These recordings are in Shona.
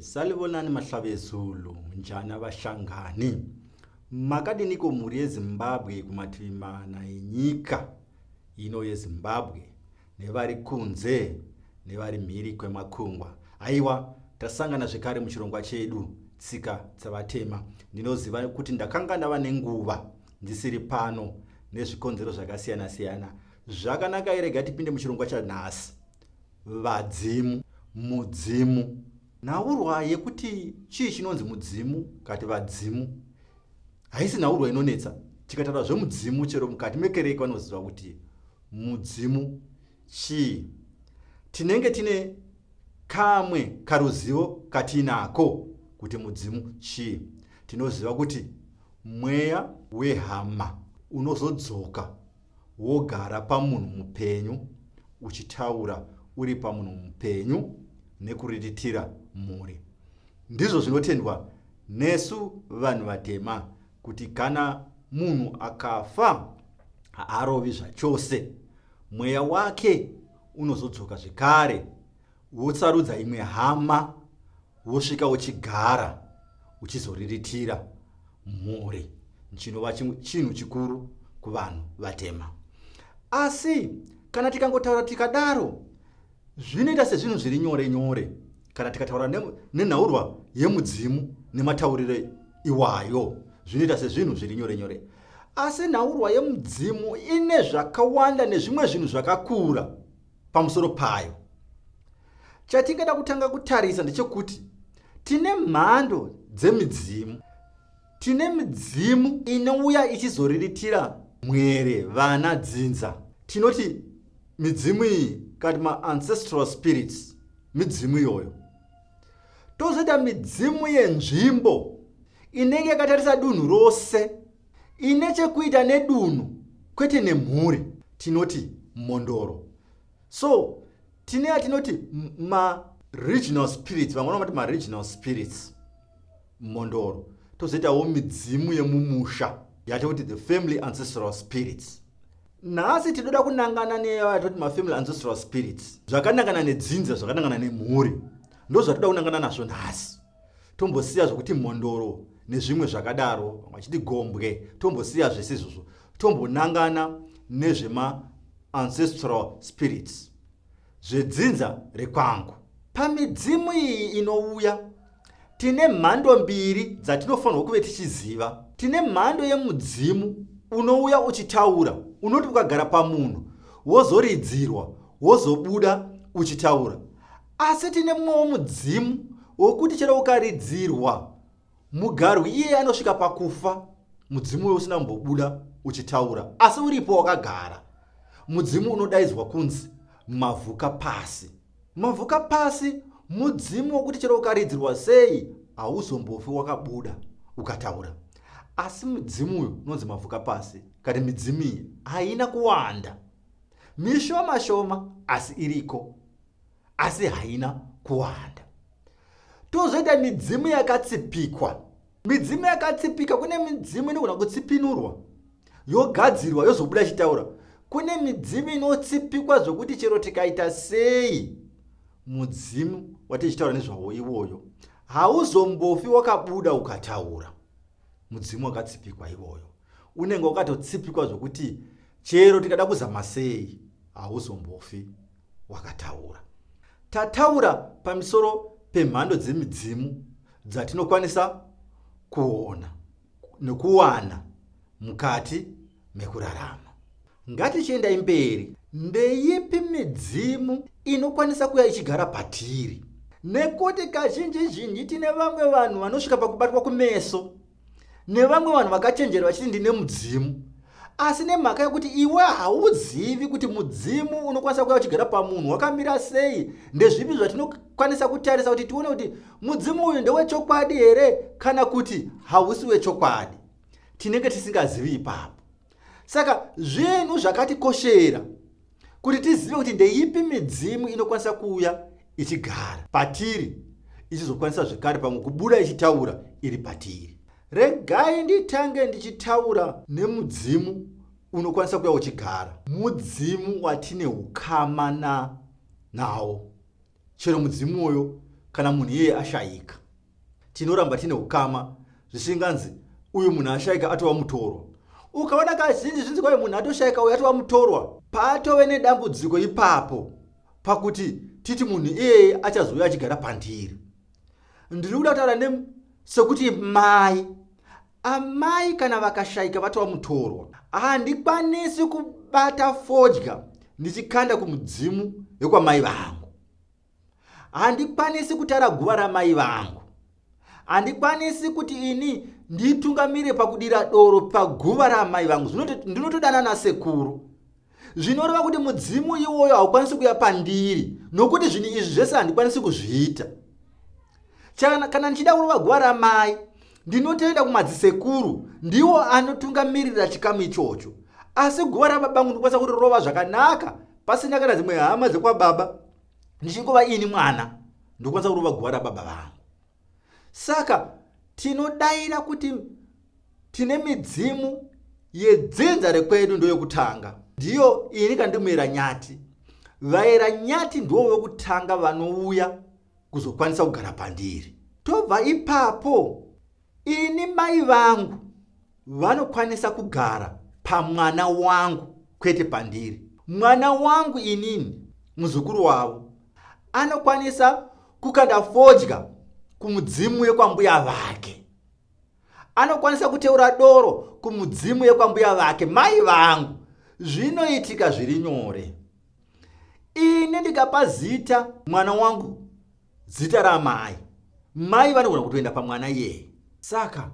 Salibonani Mahlabezulu, njani abashangani? Makadiniko mhuri yeZimbabwe kumativi mana enyika ino yeZimbabwe nevari kunze nevari mhiri kwemakungwa? Aiwa, tasangana zvekare muchirongwa chedu tsika dzavatema. Ndinoziva kuti ndakanga ndava nenguva ndisiri pano nezvikonzero zvakasiyana-siyana. Zvakanaka irega tipinde muchirongwa chanhasi. Vadzimu, mudzimu. Nhaurwa yekuti chii chinonzi mudzimu kati vadzimu haisi nhaurwa inonetsa. Tikataura zvemudzimu chero mukati mekereke vanoziva kuti mudzimu chii. Tinenge tine kamwe karuzivo katiinako kuti mudzimu chii. Tinoziva kuti mweya wehama unozodzoka wogara pamunhu mupenyu uchitaura uri pamunhu mupenyu nekuriritira mhuri ndizvo zvinotendwa nesu vanhu vatema kuti kana munhu akafa haarovi zvachose mweya wake unozodzoka zvekare Wosarudza imwe hama wosvika uchigara uchizoriritira mhuri chinova chinhu chikuru kuvanhu vatema asi kana tikangotaura tikadaro zvinoita sezvinhu zviri nyore nyore kana tikataura nenhaurwa yemudzimu nematauriro iwayo zvinoita sezvinhu zviri nyore nyore asi nhaurwa yemudzimu ine zvakawanda nezvimwe zvinhu zvakakura Pamusoro payo, chatingada kutanga kutarisa ndechekuti tine mhando dzemidzimu. Tine midzimu inouya ichizoriritira mwere, vana, dzinza. Tinoti midzimu iyi kati maancestral spirits, midzimu iyoyo. Tozoita midzimu yenzvimbo inenge yakatarisa dunhu rose ine chekuita nedunhu kwete nemhuri tinoti mhondoro so tine atinoti maregional spirits vamwe vanomati maregional spirits mhondoro tozoitawo midzimu yemumusha yatoti the family ancestral spirits nhasi tinoda kunangana neyatoti mafamily ancestral spirits zvakanangana nedzinza zvakanangana nemhuri ndozvatinoda kunangana nazvo nhasi tombosiya zvokuti mhondoro nezvimwe zvakadaro vamwe vachiti gombwe tombosiya zvese izvozvo tombonangana nezvemaancestral spirits zvedzinza rekwangu pamidzimu iyi inouya tine mhando mbiri dzatinofanirwa kuve tichiziva tine mhando yemudzimu unouya uchitaura unoti ukagara pamunhu wozoridzirwa wozobuda uchitaura Asi tine mumwewo mudzimu wokuti chero ukaridzirwa mugarwi iye anosvika pakufa mudzimu uyo usina kumbobuda uchitaura asi uripo wakagara mudzimu unodaidzwa kunzi mavhuka pasi mavhuka pasi mudzimu wokuti chero ukaridzirwa sei hauzombofi wakabuda ukataura asi mudzimu uyo unonzi mavhuka pasi kati midzimu iyi haina kuwanda mishoma shoma asi iriko asi haina kuwanda tozoita midzimu yakatsipikwa midzimu yakatsipika kune midzimu inogona kutsipinurwa yogadzirwa yozobuda ichitaura kune midzimu inotsipikwa zvokuti chero tikaita sei mudzimu watichitaura nezvawo iwoyo hauzombofi wakabuda ukataura mudzimu wakatsipikwa iwoyo unenge wakatotsipikwa zvokuti chero tikada kuzama sei hauzombofi wakataura. Tataura pamisoro pemhando dzemidzimu dzatinokwanisa kuona nekuwana mukati mekurarama. Ngatichiendai mberi, ndeyipi midzimu inokwanisa kuya ichigara patiri? Nekuti kazhinji zhinji tine vamwe vanhu vanosvika pakubatwa kumeso nevamwe vanhu vakachenjera vachiti ndine mudzimu asi nemhaka yekuti iwe hauzivi kuti mudzimu unokwanisa kuya uchigara pamunhu wakamira sei ndezvipi zvatinokwanisa kutarisa kuti tione kuti mudzimu uyu ndewechokwadi here kana kuti hausi wechokwadi tinenge tisingazivi ipapo saka zvinhu zvakatikoshera kuti tizive kuti ndeipi midzimu inokwanisa kuuya ichigara patiri ichizokwanisa zvekare pamwe kubuda ichitaura iri patiri regai nditange ndichitaura nemudzimu unokwanisa kuya uchigara mudzimu watine ukama na nawo Chero mudzimu uyo kana munhu iyeye ashayika, tinoramba tine ukama zvisinganzi uyu munhu ashayika atova mutorwa. Ukaona kazhinji zvinzi kwave munhu atoshayika uyu atova mutorwa, patove nedambudziko ipapo pakuti titi munhu iyeye achazouya achigara pandiri. Ndiri kuda kutaura ne sekuti mai Amai kana vakashaika vatova mutorwa. Handikwanisi kubata fodya ndichikanda kumudzimu wekwamai vangu. Handikwanisi kutara guva ramai vangu. Handikwanisi kuti ini nditungamire pakudira doro paguva raamai vangu. Ndinotodana nasekuru zvinoreva kuti mudzimu iwoyo haukwanisi kuya pandiri nokuti zvinhu izvi zvese handikwanisi kuzviita chana kana ndichida kurova guva ramai ndinotoenda kumadzisekuru ndiwo anotungamirira chikamu ichocho asi guva rababangu ndikwanisa kuti rova zvakanaka pasina kana dzimwe hama dzekwababa ndichingova ini mwana ndikwanisa kurova guva rababa vangu Saka tinodaira kuti tine midzimu yedzinza rekwedu ndoyokutanga ndiyo ini kandimuyera nyati vayera nyati ndiwo vekutanga vanouya kuzokwanisa kugara pandiri tobva ipapo ini mai vangu Vanokwanisa kugara pamwana wangu kwete pandiri. Mwana wangu inini muzukuru wavo anokwanisa kukanda fodya kumudzimu yekwambuya vake anokwanisa kuteura doro kumudzimu yekwambuya vake mai vangu zvinoitika zviri nyore ini ndikapa zita mwana wangu Zita raamai. Mai vanogona kutoenda pamwana iyeye. Saka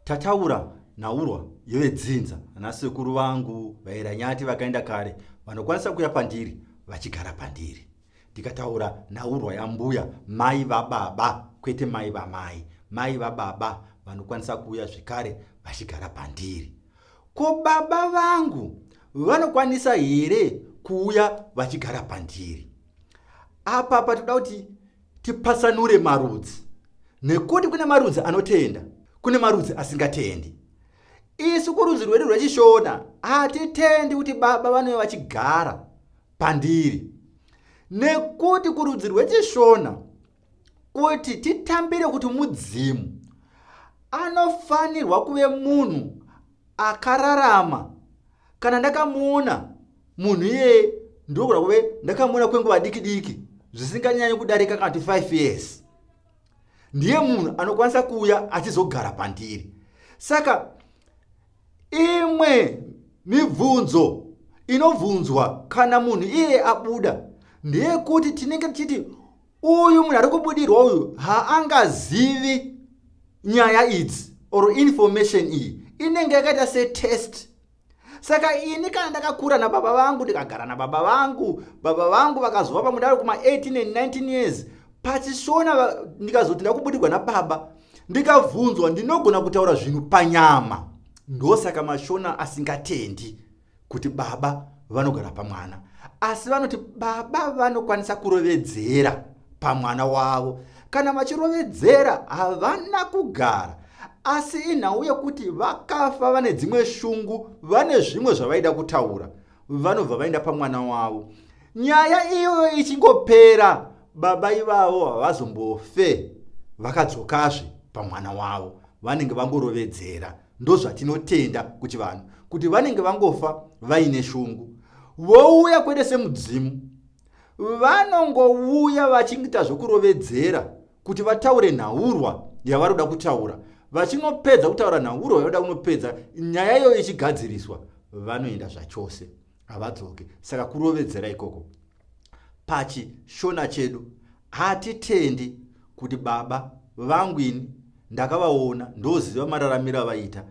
tataura nhaurwa yevedzinza nasekuru vangu vairanyati vakaenda kare vanokwanisa kuya pandiri vachigara pandiri ndikataura nhaurwa yambuya mai vababa kwete mai vamai mai vababa vanokwanisa kuuya zvekare vachigara pandiri ko baba vangu vanokwanisa here kuuya vachigara pandiri apa patinoda kuti tipatsanure marudzi nekuti kune marudzi anotenda kune marudzi asingatendi isu kurudzi rwedu rwechishona hatitendi kuti baba vanove vachigara pandiri nekuti kurudzi rwechishona kuti titambire kuti mudzimu anofanirwa kuve munhu akararama kana ndakamuona munhu iyeye ndinokuda kuve ndakamuona kwenguva diki diki zvisinganyanyi kudarika kana ti 5 years ndiye munhu anokwanisa kuuya achizogara pandiri saka imwe mibvunzo inobvunzwa kana munhu iye abuda ndeyekuti tinenge tichiti uyu munhu ari kubudirwa uyu haangazivi nyaya idzi or information iyi inenge yakaita setest saka ini kana ndakakura nababa vangu ndikagara nababa vangu baba vangu vakazova pamwe ndari kuma 18 and 19 years pachishona ndikazoti ndakubudirwa nababa ndikabvunzwa ndinogona kutaura zvinhu panyama ndosaka mashona asingatendi kuti baba vanogara pamwana asi vanoti baba vanokwanisa kurovedzera pamwana wavo kana vachirovedzera havana kugara asi inhau yekuti vakafa vane dzimwe shungu vane zvimwe zvavaida kutaura vanobva vaenda pamwana wavo nyaya iyoyo ichingopera baba ivavo havazombofe vakadzokazve pamwana wavo vanenge vangorovedzera Ndozvatinotenda kuchivanhu kuti vanenge vangofa vaine shungu vouya kwete semudzimu vanongouya vachingita zvekurovedzera kuti vataure nhaurwa yavari kuda kutaura vachinopedza kutaura nhaurwa yavada kunopedza nyaya iyoyo ichigadziriswa vanoenda zvachose havadzoke saka kurovedzera ikoko pachishona chedu hatitendi kuti baba vangu ini ndakavaona ndoziva mararamiro avaita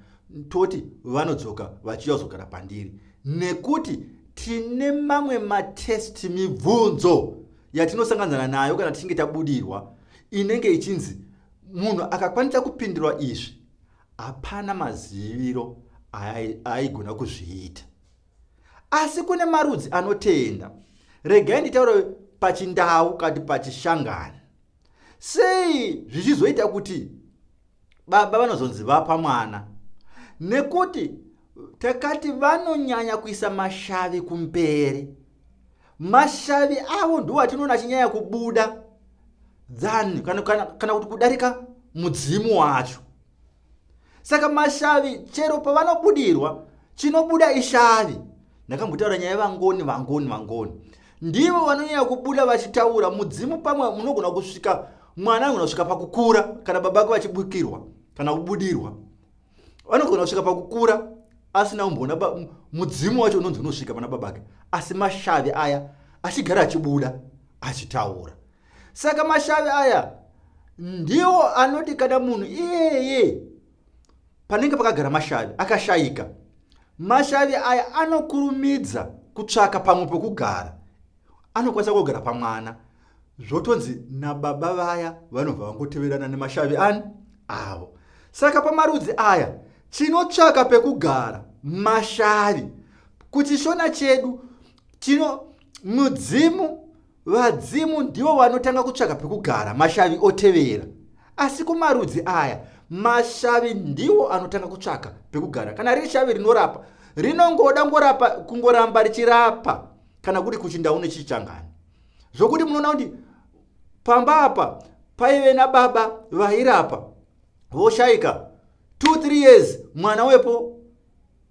toti vanodzoka vachiuya kuzogara pandiri nekuti tine mamwe matest mibvunzo yatinosanganzana nayo kana tichinge tabudirwa inenge ichinzi munhu akakwanisa kupindurwa izvi hapana maziviro aaigona kuzviita asi kune marudzi anotenda regai nditaure pachindau kati pachishangani sei zvichizoita kuti baba vanozonzi vapa mwana nekuti takati vanonyanya kuisa mashavi kumberi mashavi avo ndiwo atinoona achinyanya kubuda than kana, kana, kana kuti kudarika mudzimu wacho saka mashavi chero pavanobudirwa chinobuda ishavi ndakambotaura nyaya vangoni vangoni vangoni ndivo vanonyanya kubuda vachitaura mudzimu pamwe munogona kusvika mwana anogona kusvika pakukura kana baba vake vachibukirwa kana kubudirwa vanogona kusvika pakukura asina kumboona mudzimu wacho unonzi unosvika pana baba vake asi mashavi aya achigara achibuda achitaura saka mashavi aya ndiwo anoti kana munhu iyeye panenge pakagara mashavi akashayika mashavi aya anokurumidza kutsvaka pamwe pokugara anokwanisa kugara pamwana zvotonzi nababa vaya vanobva vangoteverana nemashavi ani avo saka pamarudzi aya tinotsvaka pekugara mashavi kuchishona chedu tino mudzimu Vadzimu ndivo vanotanga kutsvaka pekugara mashavi otevera. Asi kumarudzi aya, mashavi ndiwo anotanga kutsvaka pekugara. Kana riri shavi rinorapa, rinongoda ngorapa, kungoramba richirapa kana kuri kuchinda une chichangani. Zvokuti munoona kuti pamba apa paive nababa vairapa voshaika 23 years mwana wepo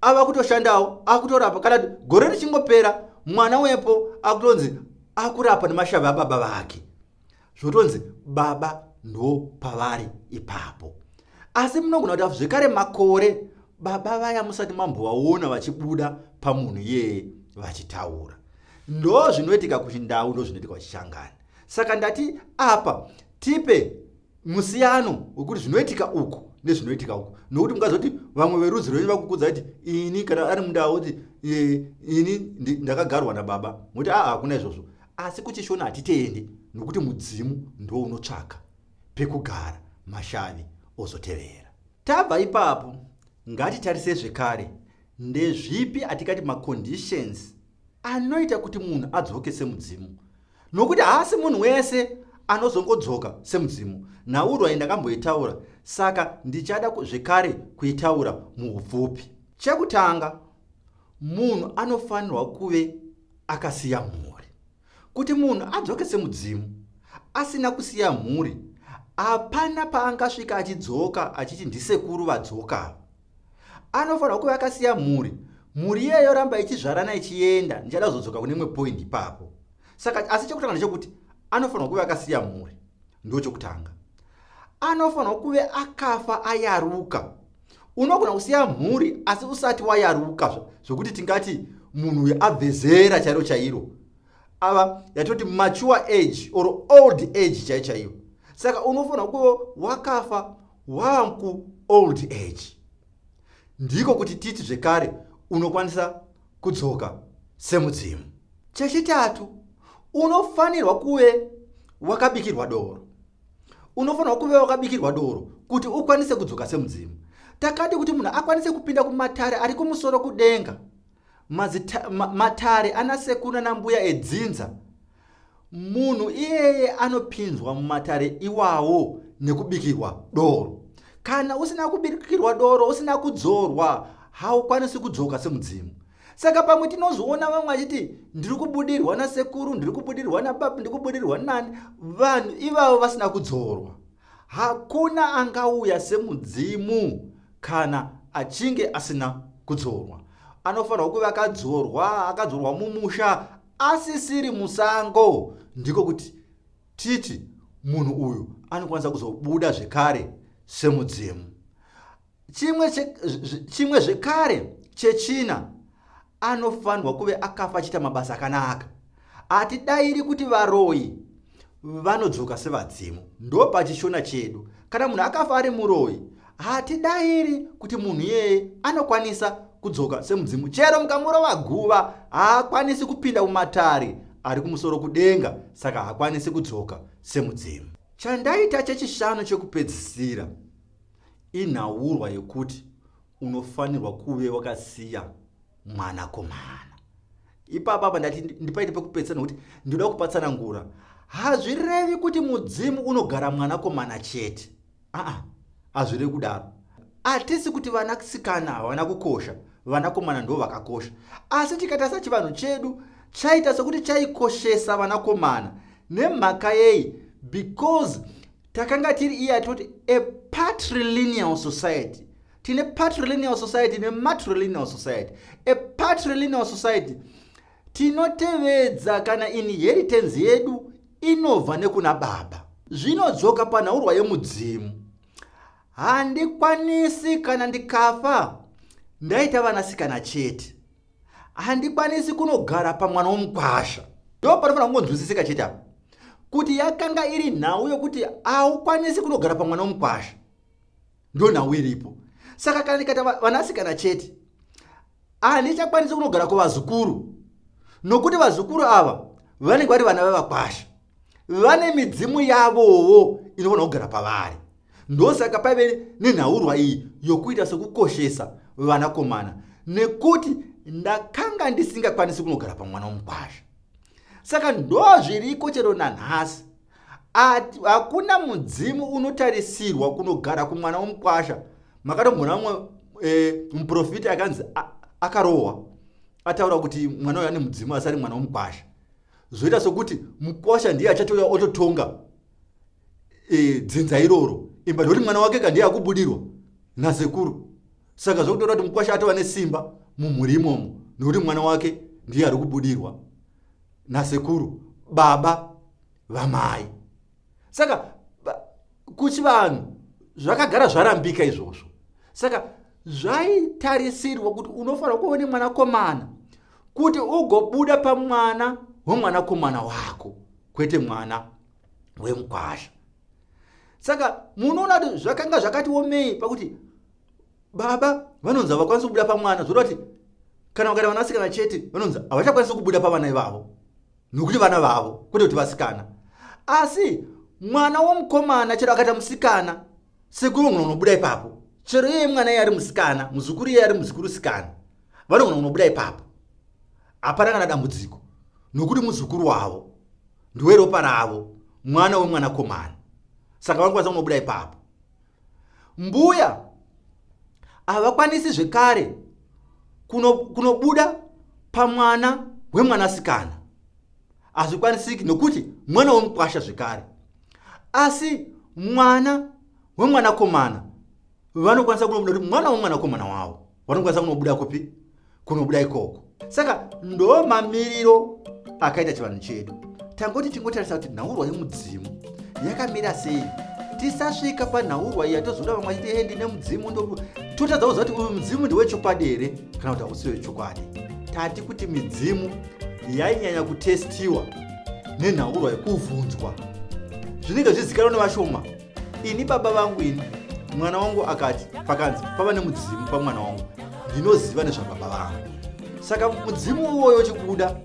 ava kutoshandawo akutorapa kana gore richingopera mwana wepo akutonzi akurapa nemashavi ababa vake zvotonzi baba ndo pavari ipapo asi munogona kuti zvekare makore baba vaya musati mambovaona vachibuda pamunhu iyeye vachitaura ndo zvinoitika kuchindau ndo zvinoitika kuchishangani saka ndati apa tipe musiyano wekuti zvinoitika uku nezvinoitika uku nokuti mungazoti vamwe verudzi rwenyu vakukudza kuti ini kana ari mundava kuti ini ndakagarwa nababa moti aa hakuna izvozvo asi kuchishona hatiteende nokuti mudzimu ndo unotsvaka pekugara mashavi ozotevera tabva ipapo ngatitarise zvekare ndezvipi atikati maconditions anoita kuti munhu adzoke semudzimu nokuti haasi munhu wese anozongodzoka semudzimu nhaurwa iyi ndakamboitaura saka ndichada zvekare kuitaura muupfupi chekutanga munhu anofanirwa kuve akasiya mhuri kuti munhu adzoke semudzimu asina kusiya mhuri hapana paangasvika achidzoka achiti ndisekuru vadzoka anofanirwa kuve akasiya mhuri mhuri iye yoramba ichizvarana ichienda ndichada kuzodzoka kune imwe point ipapo saka asi chekutanga ndechekuti anofanirwa kuve akasiya mhuri ndo chokutanga anofanirwa kuve akafa ayaruka unogona kusiya mhuri asi usati wayaruka zvekuti tingati munhu uyo abve zera chairo chairo ava yatoti mature age or old age chai chaiyo saka unofanirwa kuve wakafa Wanku old age ndiko kuti titi zvekare unokwanisa kudzoka semudzimu. Chechitatu, unofanirwa kuve wakabikirwa doro. Unofanirwa kuve wakabikirwa doro kuti ukwanise kudzoka semudzimu. Takati kuti munhu akwanise kupinda kumatare ari kumusoro kudenga, matare ana sekuru nanambuya edzinza Munhu iyeye anopinzwa mumatare iwawo nekubikirwa doro. Kana usina kubikirwa doro, usina kudzorwa, haukwanisi kudzoka semudzimu. Saka pamwe tinozoona vamwe vachiti ndiri kubudirwa nasekuru, ndiri kubudirwa nababa, ndiri kubudirwa nani, vanhu ivavo vasina kudzorwa. Hakuna angauya semudzimu kana achinge asina kudzorwa. Anofanirwa kuve akadzorwa, akadzorwa mumusha asisiri musango ndiko kuti titi munhu uyu anokwanisa kuzobuda zvekare semudzimu chimwe zvekare chechina anofanirwa kuve akafa achiita mabasa akanaka hatidairi kuti varoyi vanodzoka sevadzimu ndopachishona chedu kana munhu akafa ari muroyi hatidairi kuti munhu iyeye anokwanisa kudzoka semudzimu chero mukamurova guva haakwanisi kupinda mumatari ari kumusoro kudenga saka haakwanisi kudzoka semudzimu chandaita chechishanu chekupedzisira inhaurwa yekuti unofanirwa kuve wakasiya mwanakomana ipapa apa ndati ndipaite pekupedzisira nokuti ndinoda kupatsanangura hazvirevi kuti mudzimu unogara mwanakomana chete aa hazvirevi kudaro hatisi kuti vanasikana havana kukosha vanakomana ndo vakakosha asi tikatarisa chivanhu chedu chaita sekuti chaikoshesa vanakomana nemhaka yei because takanga tiri iya toti a patrilineal society tine patrilineal society nematrilineal society a patrilineal society tinotevedza kana inheritance yedu inobva nekuna baba zvinodzoka panhaurwa yemudzimu handikwanisi kana ndikafa ndaita vanasikana chete handikwanisi kunogara pamwana womukwasha ndo panofanira kungonzwisisika chete apa kuti yakanga iri nhau yokuti haukwanisi kunogara pamwana womukwasha ndonhau iripo saka kana ndikata vanasikana chete handichakwanisi kunogara kuvazukuru nokuti vazukuru ava vanenge vari vana vevakwasha vane midzimu yavowo inofanira kugara pavari ndosaka paive nenhaurwa iyi yokuita sekukoshesa vanakomana nekuti ndakanga ndisingakwanisi kunogara pamwana womukwasha saka ndozviriko chero nanhasi hakuna mudzimu unotarisirwa kunogara kumwana womukwasha makatombona umwe e, muprofiti akanzi akarohwa ataura kuti mwana uyo ane mudzimu asi ari mwana womukwasha zvoita sokuti mukwasha ndiye achatouya ototonga e, dzinza iroro imba ndokuti mwana wake ka ndiye akubudirwa nasekuru saka zvokutora kuti mukwasha atova nesimba mumhuri imomo nokuti mwana wake ndiye ari kubudirwa nasekuru baba vamai saka kuchivanhu zvakagara zvarambika izvozvo saka zvaitarisirwa kuti unofanira kuva une mwanakomana kuti ugobuda pamwana wemwanakomana wako kwete mwana wemukwasha saka munoona kuti zvakanga zvakatiomei pakuti baba vanonzi havakwanisi kubuda pamwana zvoda kuti kana vakaita vanasikana chete vanonzi havachakwanisi kubuda pavana ivavo nokuti vana vavo kwete kuti vasikana asi mwana womukomana chero akaita musikana sekuru vanogona kunobuda ipapo chero iye mwana iye ari musikana muzukuru iye ari muzukuru sikana vanogona kunobuda ipapo hapana kana dambudziko nokuti muzukuru wavo ndiweropa ravo mwana wemwanakomana saka vanokwanisa kunobuda ipapo Mbuya havakwanisi zvekare kunobuda kuno pamwana wemwanasikana. Hazvikwanisiki nokuti mwana wemukwasha zvekare. Asi mwana wemwanakomana vanokwanisa kunobuda kuti mwana wemwanakomana wavo. vanokwanisa kunobuda kupi kunobuda ikoko saka ndo mamiriro akaita chivanhu chedu tangoti tingotarisa kuti nhaurwa yemudzimu yakamira sei tisasvika panhaurwa iya tozoda vamwe achiti endi nemudzimu totadza kuziva kuti uyu mudzimu ndewechokwadi here kana kuti hausi wechokwadi tati kuti midzimu yainyanya kutestiwa nenhaurwa yekuvhunzwa zvinenge zvizikanwa nevashoma ini baba vangu ini mwana wangu akati pakanzi pava nemudzimu pamwana wangu ndinoziva nezvababa vangu saka mudzimu iwoyo chikuda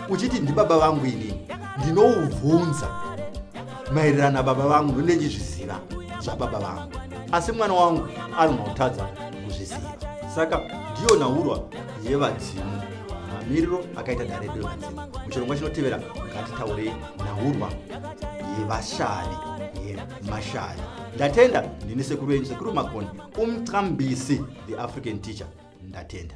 uchiti ndibaba vangu ini ndinoubvunza maererano nababa vangu ndonde ndizviziva zvababa vangu asi mwana wangu anonotadza kuzviziva saka ndiyo nhaurwa yevadzimu mamiriro akaita dare revadzimu muchirongwa chinotevera ngatitaurei nhaurwa yevashavi yemashavi ndatenda ndini sekuru yenyu sekuru makoni umqambisi the african teacher ndatenda